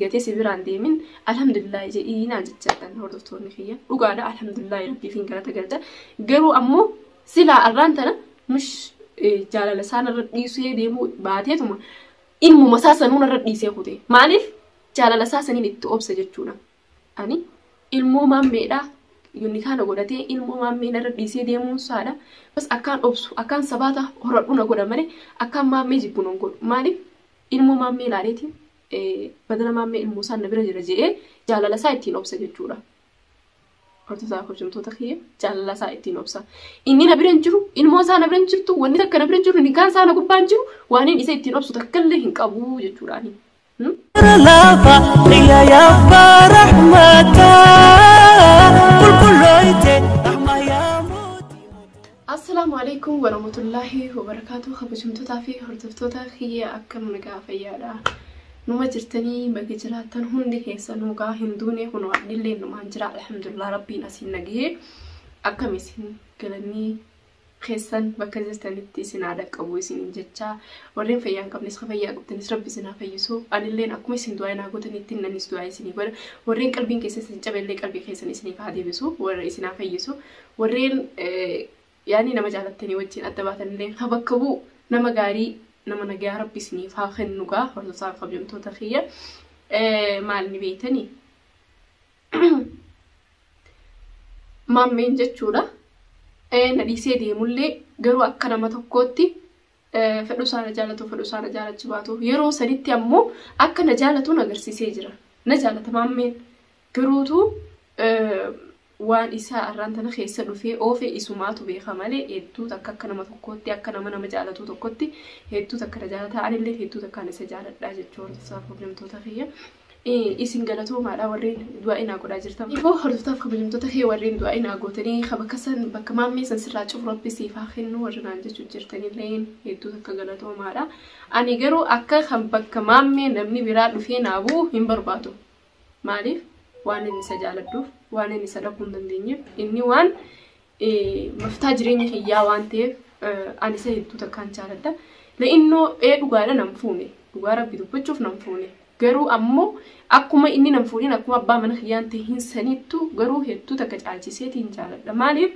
gatee si biraan deemin alhamdulillaahi jedhii naan jechaadhaan hordoftoonni kiyya dhugaadha alhamdulillaahi rabbiifiin galata galcha garuu ammoo silaa arraan tana mish jaalala isaan irra dhiisee deemuu baateetuma ilmuma isaa sanuun irra dhiisee kute maaliif jaalala isaa saniin itti obse jechuudha ani ilmoo maammeedhaa yonni kaana godhatee ilmoo maammeen irra dhiisee deemuun isaadha bas akkaan obsu akkaan sabaata horadhuna godha malee akkaan maammee jibbuun hin godhu maaliif ilmoo maammee ilaaleetiin Badana Maammee Ilmoosaan na bira jira je'ee jaalala isaa ittiin obsa jechuudha. Hortotaa kabajamtoota kiyya jaalala isaa ittiin obsa. Inni na bira hin jiru, ilmoon isaa na bira hin jirtu, wanni takka na bira hin jiru, nikaan isaa na gubbaa hin jiru, waaniin isa ittiin obsu takkallee hin qabu jechuudhaani. Lafa xiyya yabba rahmata qulqullooyte. Assalaamu Aleeykum Waramutullaahi Wabarakaatu Kabajamtotaa fi Hordoftoota kiyya akkam nagaa fayyaadha numa jirtanii baga jiraattan hundi keessanuu gaa hin duune kunoo anillee numaan jira alhamdulillah rabbiin asiin nagahee akkam isin galannii keessan bakka jirtanitti isin haa dhaqqabu isiniin jechaa warreen fayyaa hin qabnes ka fayyaa qabdanis rabbi isin haa fayyisu anilleen akkuma isin du'aa naa gootanitti innanis du'aa isinii godha warreen qalbiin keessa isin cabellee qalbii keessan isiniif haa deebisu warra isin haa fayyisu Warreen yaanii nama jaalattanii wajjin adda baatanillee ha bakka bu'u nama gaarii nama nagayaa rabbi isiniif haa kennu gaa hordofaa kabajamtoota kiyya maal ni beeytanii maammeen jechuudha na dhiisee deemullee garuu akka nama tokkootti fedhuu isaa na jaalatu fedhuu isaa na jaalachu baatu yeroo sanitti ammoo akka na jaalatuun agarsiisee jira na jaalata maammeen garuutu waan isaa arraan tana keessa dhufee oofee isumaatu beeka malee hedduu takka akka nama tokkootti akka nama nama jaalatuu tokkotti hedduu takka na jaalataa anillee hedduu takkaan isa jaaladhaa jechuu hordoftaa pirobleemtoota kiyya Isin galatoomaadha warreen du'aa'ii naa godhaa jirtan. Immoo hordoftaaf kabajamtoota kee warreen du'aa'ii naa gootanii ka bakka san bakka maammee san sirraa cufu rabbi siif haa kennu warri naan jechuu jirtanilleen hedduu takka galatoomaadha. Ani garuu akka kan bakka maammee namni biraa dhufee naa bu'u hin barbaadu. Maaliif? Waan inni isa jaaladhuuf, waan inni isa dhabuu hin dandeenyeef, inni waan maftaa jireenya kiyyaa waan ta'eef ani isa hedduu takkaan jaaladha. La'innoo ee dhugaadha nan fuune dhugaa rabbi dubbachuuf nan fuune garuu ammoo akkuma inni nan fuudhin akkuma abbaa mana kiyyaan tahin sanittu garuu hedduu takka caalchiseetiin jaaladha maaliif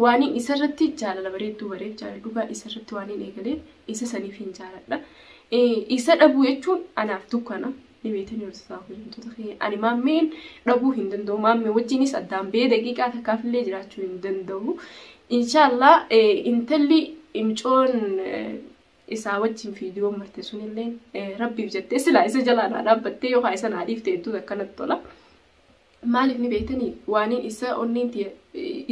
waaniin isarratti jaalala bareedduu bareef jaalala dhugaa isarratti waaniin eegalee isa saniif hin jaaladha isa dhabuu jechuun anaaf dukkana ni beektanii warri isaa kabajamtoota keenya ani maammeen dhabuu hin danda'u maammee wajjinis addaan bee daqiiqaa takkaaf illee jiraachuu hin danda'u inshaallah intalli imcoon isaa wajjin fiidiyoo marte sun illee rabbiif jettee silaa isa jalaa naa dhaabbattee yookaan isa naa dhiifte hedduun akkanatti tola. Maaliif ni beektanii? Waaniin isa onneen tiyya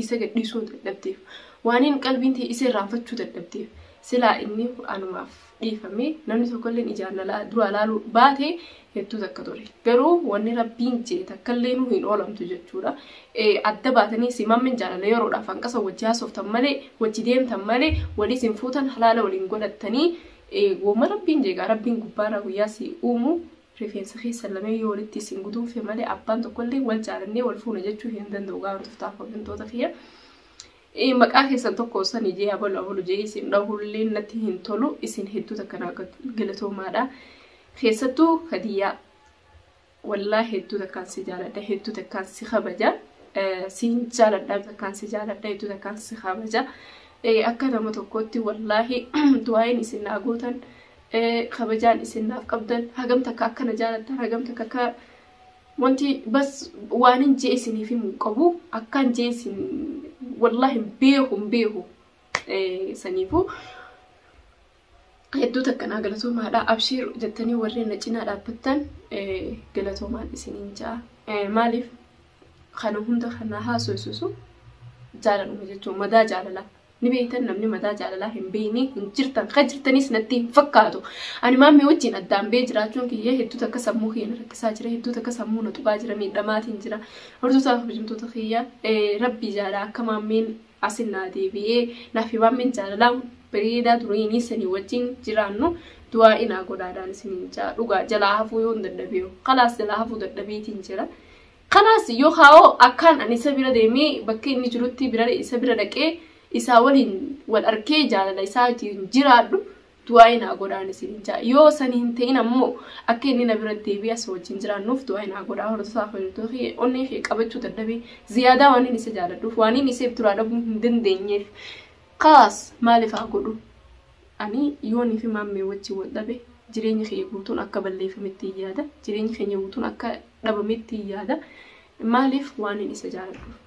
isa gadhiisuu dadhabdeef, waaniin qalbiin tiyya isa irraanfachuu dadhabdeef, silaa inni anumaaf dhiifamee namni tokkolleen ijaan na la- duraa laaluu baate hedduu takka ture. Garuu wanni Rabbiin je'e takkalleenu hin oolamtu jechuudha. Eh, Adda baatanii si mammen jaalala yeroodhaaf hanqasa wajji haasoftan malee, wajji deemtan malee, wal isin fuutan halaala waliin godhattanii, eh, woma Rabbiin je'e gaa Rabbiin gubbaarraa guyyaa si uumu Rifeensa keessan lameen yoo walitti isin guduunfe malee abbaan tokkollee wal jaalannee wal fuuna jechuu hin danda'u gaafa tuftaa kabajamtoota kiyya. Maqaa keessan tokko san ijee abalu abalu jee isin dhahullee natti hin tolu isin hedduu takka naa galatoomaadha. Keessattuu kadiyyaa wallaa hedduu takkaan si jaaladha hedduu takkaan si kabaja. Siin jaaladha takkaan si jaaladha hedduu takkaan si kabaja. Akka nama tokkootti wallaahi du'aayin isin naa gootan. kabajaan isin naaf qabdan hagam takka akka na jaalattan hagam takka akka wanti bas waanin jee isiniif himu hin qabu akkaan jee isin wallaahi hin beeku hin beeku saniifu hedduu takka naa galatoomaadha abshiir jettanii warreen na cinaa dhaabbattan galatoomaan isiniin ja'a maaliif kana hunda kana haasofsiisu jaalaluma jechuun madaa jaalalaa Ni beektan namni mataa jaalalaa hin beekne hin jirtan kan jirtanis natti hin fakkaatu. Ani maammee wajjin addaan bee jiraachuun kiyya hedduu takka sammuu kiyya na rakkisaa jira hedduu takka sammuu na tuqaa jira miidhamaatiin jira. Hordoftoota kabajamtoota kiyya rabbii jaalaa akka maammeen asin naa deebi'ee naaf fi maammeen jaalalaa bareedaa duriinii sanii wajjin jiraannu du'aa inaa godhaadhaan isiniin jaa dhugaa jalaa hafuu yoon dadhabeeru kalaas jalaa hafuu dadhabeetiin jira. Kanaas yoo kaa'oo akkaan ani isa bira deemee bakka inni jirutti bira isa bira dhaqee isaa waliin wal arkee jaalala isaatiin jiraadhu du'aa'ii naa godhaan isiniin ja'a. Yoo san hin ta'in ammoo akka inni na bira deebi'ee asii wajjin jiraannuuf du'aa'ii naa godhaa hordofaa fayyaduu kee onnee kee qabachuu dadhabee ziyaadaa waan inni isa jaaladhuuf waan inni isa duraa dhabuu hin dandeenyeef kaas maaliif haa godhu. Ani yoonii fi Maammee wajjin wal dhabe, jireenyi kiyya guutuun akka balleeffamettiin yaada. Jireenyi keenya guutuun akka dhabamettiin yaada. Maaliif? Waanin isa jaaladhuuf.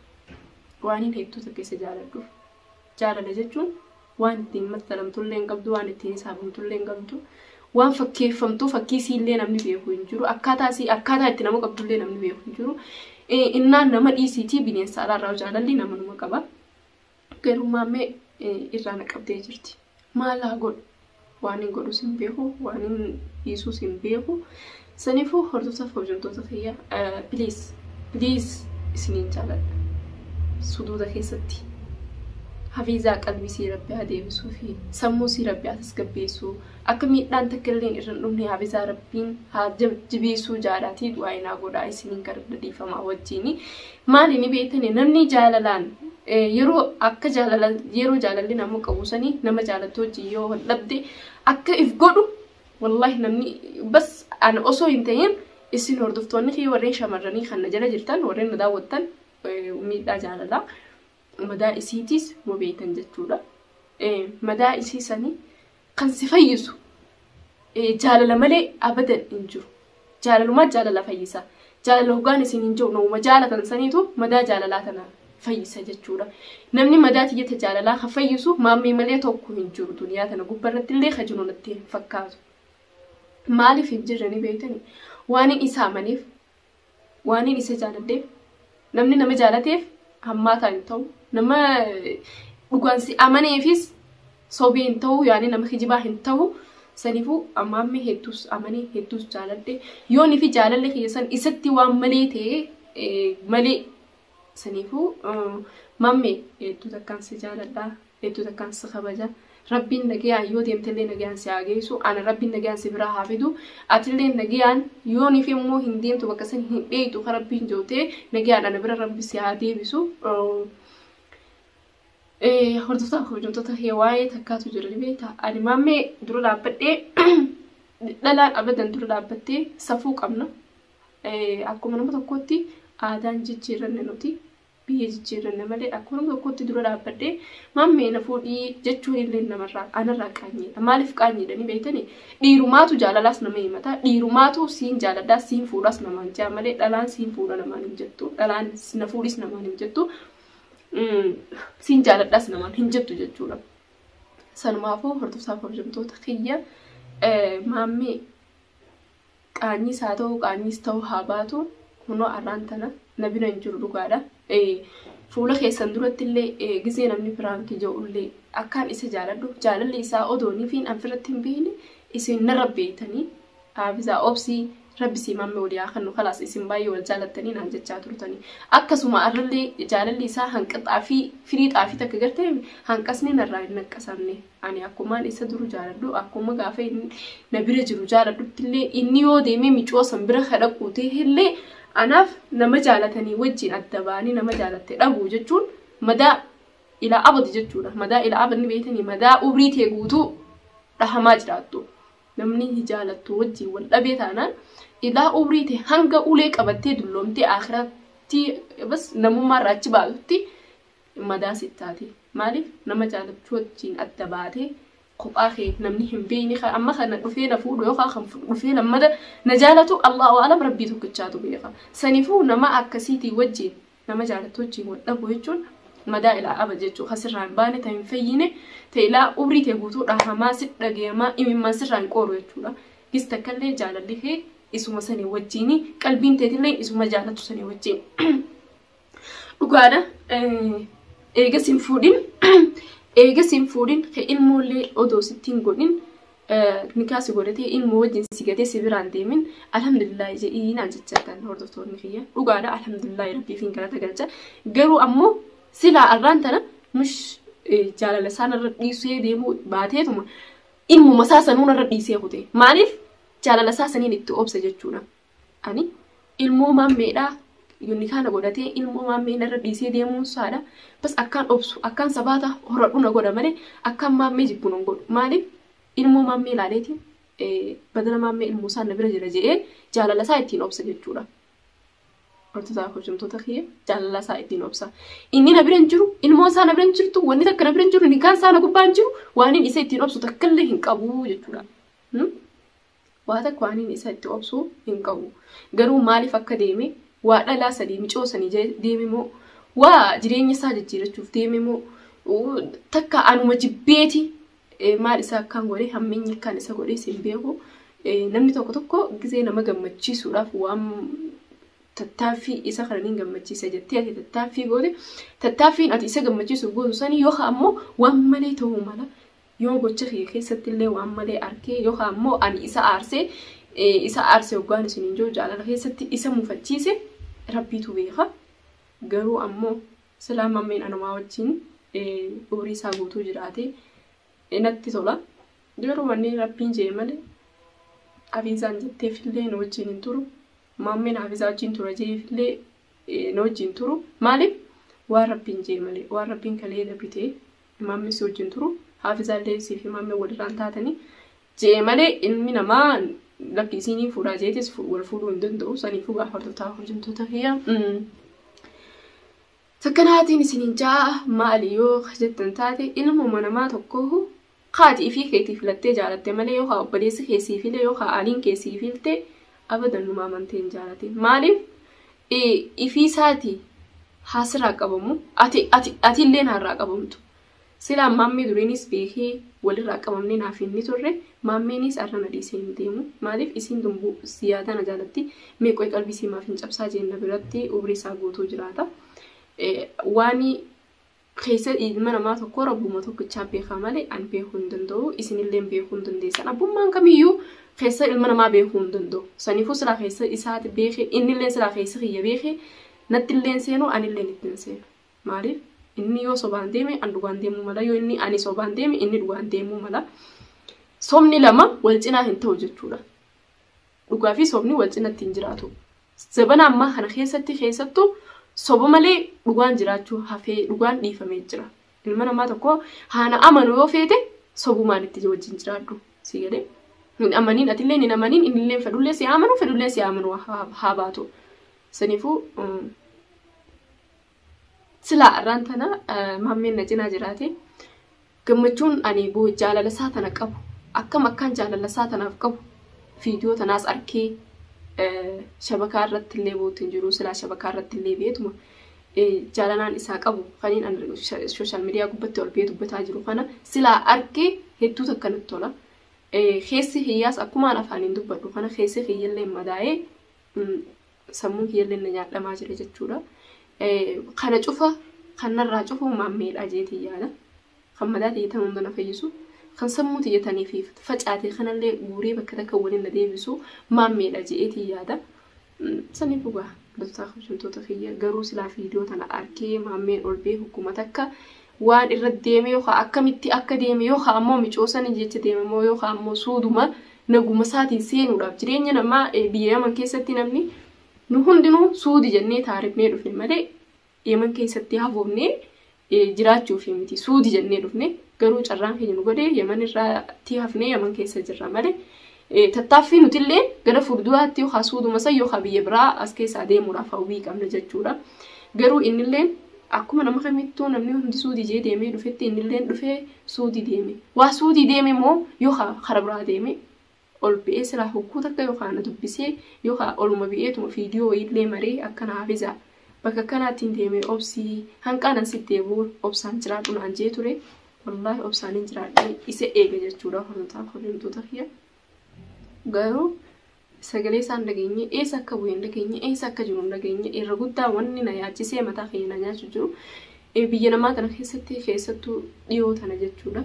Waanin hedduu takka isa jaaladhuuf. Jaalala jechuun waan ittiin mattalamtullee hin qabdu, waan ittiin hisaabamtullee hin qabdu. Waan fakkeeffamtuu fakkii isiillee namni beeku hin jiru. Akkaataa isii akkaataa itti nama qabdullee namni beeku hin jiru. Eh, Innaan nama dhiisiitii bineensa alaarraa jaalalli nama numa qaba. Garummaan mee irraa na qabdee jirti. Maal haa godhu? Waanin godhus hin beeku, waanin dhiisus hin beeku. Saniifuu hordoftoota hojjettoota kiyya please please isiniin jaaladha. Suduuda keessatti hafiizaa qalbii sii rabbi haa deebisuu fi sammuu sii rabbi haa tasgabbeessuu akka miidhaan takka illee irra hin dhumne hafiizaa rabbiin haa jajjabeessuu jaadhaatii du'aa inaa godhaa isiniin gara dhiifamaa wajjiin Maali ni beektani namni jaalalaan yeroo akka jaalala yeroo jaalalli nama qabu sanii nama jaalattu wajjin yoo wal dhabde akka if godhu wallahi namni bas ana osoo hin ta'in isin hordoftoonni kee warreen shamarranii kan na jala jirtan warreen na daawwattan miidhaa jaalalaa madaa isiitiis ma beeytan jechuudha. Madaa isii sanii kan si fayyisu jaalala malee abadan hin jiru. Jaalalumaa jaalala fayyisa. Jaalala hoggaan isin hin jiru namuma jaalatan saniitu madaa jaalalaa tana fayyisa jechuudha. Namni madaa tiyyata jaalalaa kan fayyisu maammee malee tokko hin jiru duniyaa tana gubba irratti illee kan jiru natti hin fakkaatu. Maaliif hin jirre ni beeytani? Waan hin isaa maniif Waanin isa jaaladheef namni nama jaalateef hammaataa hin ta'u. Nama dhugaan si amaneefis sobee hin ta'u yaani nama kijibaa hin ta'u. Saniifuu ammaammee hedduus amanee hedduus jaaladhe. Yoonii fi jaalalli kiyya san isatti waan malee ta'e malee Saniifuu mamme hedduu takkaan si jaaladha hedduu takkaan si kabaja rabbiin nagayaan yoo deemtellee nagayaan si haa geessu ana rabbiin nagayaan si biraa haa fidu atillee nagayaan yoo nifi immoo hin deemtu bakka san hin dheeytu ka rabbiin jootee nagayaan ana bira rabbi si haa deebisu hordoftaa kabajamtoota waa'ee takkaatu jira ni beekta ani mamme dura dhaabbadhee dhalaan abadan dura dhaabbattee safuu qabna Akkuma nama tokkootti aadaan jijjiirranne nuti biyya jijjiirranne malee akkuma nama tokkootti dura dhaabbadhee mammee na fuudhii jechuun illee namarraa anarraa qaanyiidha. Maaliif qaanyiidhanii beektanii? Dhiirumaatu jaalalaas nama himata. Dhiirumaatu siin jaaladhaa siin fuudhaas namaan jaa malee dhalaan siin fuudha namaan hin jettu. Dhalaan na fuudhis namaan hin jettu. Siin jaaladhaas namaan hin jettu jechuudha. Sanumaafuu hordoftoota kabajamtoota kiyya maammee Qaanyiis haa ta'uu qaanyiis ta'uu haa baatu kunoo arraan tana na bira hin jiru dhugaadha. Fuula keessan duratti illee gizee namni piraanki ja'u illee akkaan isa jaaladhu jaalalli isaa odoo nifiin an firratti hin beeyne isin narra beeytanii Haafizaa obsii rabbi sii maamme walii haa kennu kalaas isin baay'ee wal jaalattanii naan jechaa turtanii akkasuma arra illee jaalalli isaa hanqaxaa fi firii xaafii takka gartee hanqasni narraa hin naqqasamne. Ani akkumaan isa duru jaaladhu akkuma gaafa inni na bira jiru jaaladhutti illee inni yoo deemee micoo san bira ka dhaquu ta'e illee anaaf nama jaalatanii wajjin adda ba'anii nama jaalatte dhabuu jechuun madaa ilaa abadi jechuudha. Madaa ilaa abadi beektanii madaa umrii tee guutuu dhahamaa jiraattu. Namni hin jaalattu wajjin wal dhabee taanaan ilaa umrii tee hanga ulee qabattee dulloomtee akhiratti bas namummaa irraa achi baatutti madaa sit taate maalif nama jaalattu wajjiin adda baate kophaa kee namni hin beeyne kan amma kana dhufee na fuudhu yookaan kan fu- dhufee lammada na jaalatu allahu alam rabbii tokkichaatu beeka sanifuu nama akkasiitii wajjiin nama jaalattu wajjiin wal dhabu jechuun madaa ilaa aba jechuu kan sirraa hin baane ta hin fayyine ta ilaa umrii tee guutuu dhahamaa sit dhageemaa imimmaan sirraa hin qooru jechuudha gis takkallee jaalalli kee isuma sanii wajjiini qalbiin teetillee isuma jaalatu sanii wajjiin Dhugaadha. Eega sin fuudhin eega sin fuudhin ka ilmoollee odoo sitti hin godhin nikaa si godhatee ilmoo wajjin si gatee si biraan deemin alhamdulillaahi jedhii naan jechaa kan hordoftoonni kiyya dhugaadha alhamdulillaahi rabbiif hin galata galcha garuu ammoo silaa arraan tana mush jaalala isaan irra dhiisee deemuu baateetuma ilmuma isaa sanuun irra dhiisee kute maaliif jaalala isaa saniin itti obse jechuudha Ani ilmoo maammeedhaa yunikaa na godhatee ilmoo maammee narra dhiisee deemuun saadha bas akkaan obsu akkaan sabaata horadhu na godha malee akkaan maammee jibbu nan godhu maaliif ilmoo maammee ilaaleeti badala maammee ilmoo isaan na bira jira je'ee jaalala isaa ittiin obsa jechuudha. Hortotaa hojjumtoota kiyya jaalala isaa ittiin obsa. Inni na bira hin jiru ilmoon isaa na bira hin jirtu wanni takka na bira hin jiru nikaan isaa na gubbaa hin jiru waaniin isa ittiin obsu takkallee hin qabu jechuudha. Waa takka aniin isa itti obsu hin qabu. Garuu maaliif akka deeme, waa dhalaa sanii micoo sanii jee deeme moo, waa jireenya isaa jijjiirachuuf deeme moo, takka anuma jibbeeti maal isa akkaan godhe hammeenyi akkaan isa godhe sin beeku. Namni tokko tokko gizee nama gammachiisuudhaaf waan tattaaffii isa kana niin gammachiisa jettee ati tattaaffii goote tattaaffiin ati isa gammachiisuuf gootu sanii yookaan ammoo waan malee ta'uu mala Yoo gocha kiyya keessatti illee waan malee arke yookaan immoo ani isa aarse isa aarse hoggaan isiniin jiru jaalala keessatti isa mufachiise rabbiitu beeka garuu ammoo silaa mammeen anumaa wajjin umrii isaa guutuu jiraate natti tola garuu wanni rabbiin jee malee hafiizaan jetteefillee nu wajjin hin turu mammeen hafiizaa wajjin tura jeefillee nu wajjin turu maaliif waan rabbiin jee malee waan rabbiin kalee dabrite Imaamni si wajjin turu haafizaallee siif imaamni walirraan taatanii je'e malee ilmi namaa lakki isiinii fuudhaa jeetis wal fuudhuu hin danda'u saniifuu yaa hordoftaa hojjamtoota kiyya takkanaatiin isiniin ja'a maali yoo jettan taate ilmuma namaa tokkoo kaati ifii keetii filattee jaalatte malee yoo haa obboleessi keessiifilee yoo haa aaliin keessiifiltee Abadan numa amantee hin jaalatin maaliif ifii isaati haa sirraa qabamu ati ati ati illee naarraa qabamtu silaa maammee duriinis beekee walirraa qabamnee naaf hin ni turre maammeenis arra na dhiisee hin deemu maaliif isiin dumbuu siyaadaa na jaalatti meeqoy qalbii sii maaf hin cabsaa jeenna biratti umrii isaa guutuu jiraata waani keessatti ilma namaa tokkoo rabbuma tokkichaa beekaa malee an beekuu hin danda'u isinilleen beekuu hin dandeessan abbummaan kamiyyuu keessa ilma namaa beekuu hin danda'u saniifuu silaa keessa isaati beeke innilleen silaa keessa kiyya beeke nattilleen seenu anilleen ittiin seenu maaliif inni yoo sobaan deeme an dhugaan deemuu mala yoo inni ani sobaan deeme inni dhugaan deemuu mala sobni lama wal cinaa hin ta'u jechuudha Dhugaa fi sobni wal cinatti hin jiraatu. Zabana ammaa kana keessatti keessattuu soba malee dhugaan jiraachuu hafee dhugaan dhiifamee jira. Ilma namaa tokko haana amanu yoo feete sobumaan itti wajjin jiraadhu. Si galee hin amaniin atillee hin amaniin innillee fedhullee si amanu fedhullee si amanu haa baatu. Saniifuu Silaa arraan tana maammeen na cinaa jiraate gammachuun ani boo'u jaalala isaa tana qabu akkam akkaan jaalala isaa tanaaf qabu viidiyoo tanaas arkee shabakaa irratti illee bootu hin jiru silaa shabakaa irratti illee beetuma jaalalaan isaa qabu kaniin an sooshaal miidiyaa gubbatti ol bee dubbataa jiru kana silaa arkee hedduu takka natti tola. Keessi kiyyaas akkumaan afaaniin dubbadhu kana keessi kiyyallee madaa'ee sammuun kiyyallee na nyaadhamaa jira jechuudha. Kana cufa kan narraa cufu maammeedha jeetii yaada. Kan madaa tiyyatan hunda na fayyisu. Kan sammuu tiyyatanii fi facaatee kanallee guuree bakka takka waliin na deebisu maammeedha jeetii yaada. Sanii dhugaa dottaa kabajamtoota kiyya garuu silaa viidiyoo tana arkee maammeen ol bee hukkuma takka waan irra deeme yookaan akkamitti akka deeme yookaan ammoo micoosanii jecha deeme moo yookaan ammoo suuduma naguma isaatiin seenuudhaaf jireenya namaa biyya yaman keessatti namni nu hundinuu suudi jennee taarifnee dhufne malee yaman keessatti hafoofnee jiraachuuf miti suudi jennee dhufne garuu carraan keenya nu godhe yaman irratti hafnee yaman keessa jirra malee Tattaaffii nutillee gara fuulduraatti yookaan suuduma san yookaan biyya biraa as keessaa deemuudhaaf hawwii qabna jechuudha. Garuu innillee akkuma nama kamittuu namni hundi suudii jee deemee dhufetti innillee dhufee suudii deeme. Waa suudii deeme moo yookaan kara biraa deeme ol bi'ee silaa hogguu takka yookaan na dubbisee yookaan oluma bi'eetuma viidiyoo wayiillee maree akkana hafiza bakka akkanaatiin deeme obsii hanqaanan si deebi'uun obsaan jiraadhu naan jee ture. Wallaahi obsaanin jiraadhee isa eega jechuudha hordotaa kabajamtoota kiyya. Garuu sagalee isaan dhageenye eessa akka bu'e hin dhageenye eessa akka jiru hin dhageenye irra guddaa wanni na yaachisee mataa keenya na nyaachuu jiru eh, biyya namaa kana keessatti keessattuu dhiyoo tana jechuudha.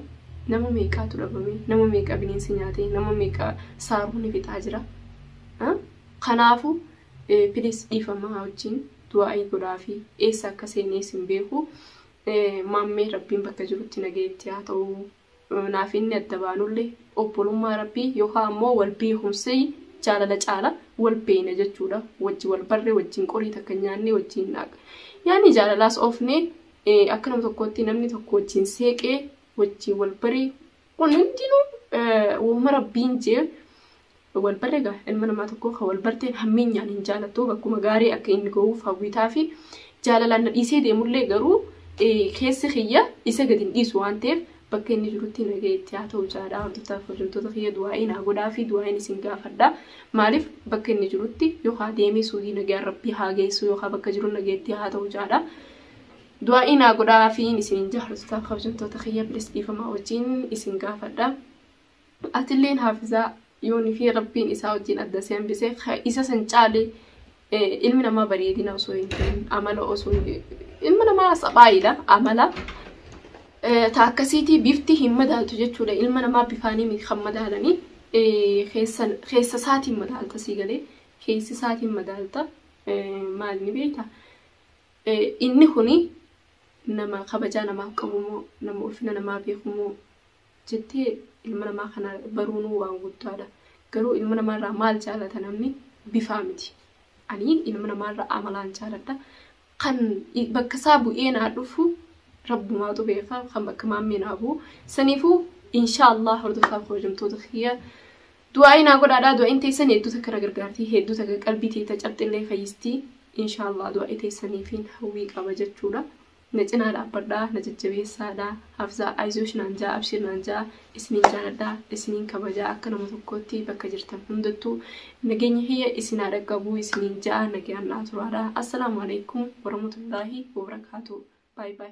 Nama meeqaatu dhabame nama meeqa bineensi nyaate nama meeqa saaruun fixaa jira. Ah, Kanaafu eh, please dhiifamaa wajjin du'aa'ii godhaafi eessa akka seenee sin beeku Maammee Rabbiin bakka jirutti nagaya itti haa ta'u. Naafinni adda baanullee obbolummaa Rabbii yookaan ammoo wal beekumsi jaalala caala wal beeyna jechuudha. Wajji wal barre wajjin qorii takka nyaanne wajjin naaqa. Yaanni jaalalaas oofne akka nama tokkootti namni tokko wajjin seeqee wajjin wal baree kun hundinuu wooma Rabbiin jee wal barre egaa ilma namaa tokkoo kan wal barteen hammeenyaan hin jaalattu bakkuma gaarii akka inni ga'uuf hawwitaa fi jaalalaan na dhiisee deemullee garuu keessi kiyya isa gadi hin dhiisu waan ta'eef bakka inni jirutti nagee itti haa ta'u jaadhaa hordoftaa fi hojjettoota kiyya du'aa'ii naa godhaa fi du'aa'iin isin gaafadha maaliif bakka inni jirutti yookaan deemee suudii nagaa rabbii haa geessu yookaan bakka jiru nagee itti haa ta'u jaadhaa. du'aa'ii naa godhaa fi isin jaarsotaa fi hojjettoota kiyya bilis dhiifamaa wajjin isin gaafadha. Atilleen haafizaa yoo nifii rabbiin isaa wajjin adda si hambise ka isa san caale eh, ilmi namaa bareedina osoo hin ta'in amala osoo hin- ilma namaa saphaayiidha amala eh, ta akkasiitii bifti hin madaaltu jechuudha ilma namaa bifaanii miti kan madaalanii eh, keessan- keessa isaatiin madaalta sii galee keessi isaatiin madaalta eh, maal ni beekta Eh, inni kuni nama kabajaa namaaf qabu moo nama ulfina namaa beeku moo jettee ilma namaa kana baruunuu waan guddaadha. Garuu ilma namaa irraa maal jaalata namni? Bifaa miti. Ani ilma namaa irraa amalaan jaaladha. Kan i- bakka isaa bu'ee naa dhufu rabbumaatu beeka kan bakka maammee naa bu'u. Saniifuu inshaallah hordofaa kabajamtoota kiyya du'aa'ii naa godhaadha. Du'a'iin teessan hedduu takka na gargaarti. Hedduu takka qalbii teeta cabxillee fayyistii. Inshaallah du'aa'ii teessaniifiin hawwii qaba jechuudha. Na cinaa dhaabbadhaa na jajjabeessaa dha Hafzaa Ayzoosh naan jaa Abshir naan jaa Isiniin jaaladha isiniin kabajaa akka nama tokkootti bakka jirtan hundattu Nageenyi kiyya isin haa dhaqqabu isiniin jaa nagayaan naa turaa dha Assalaamu Aleeykum Waramutullaahi Wabarakaatuh By by.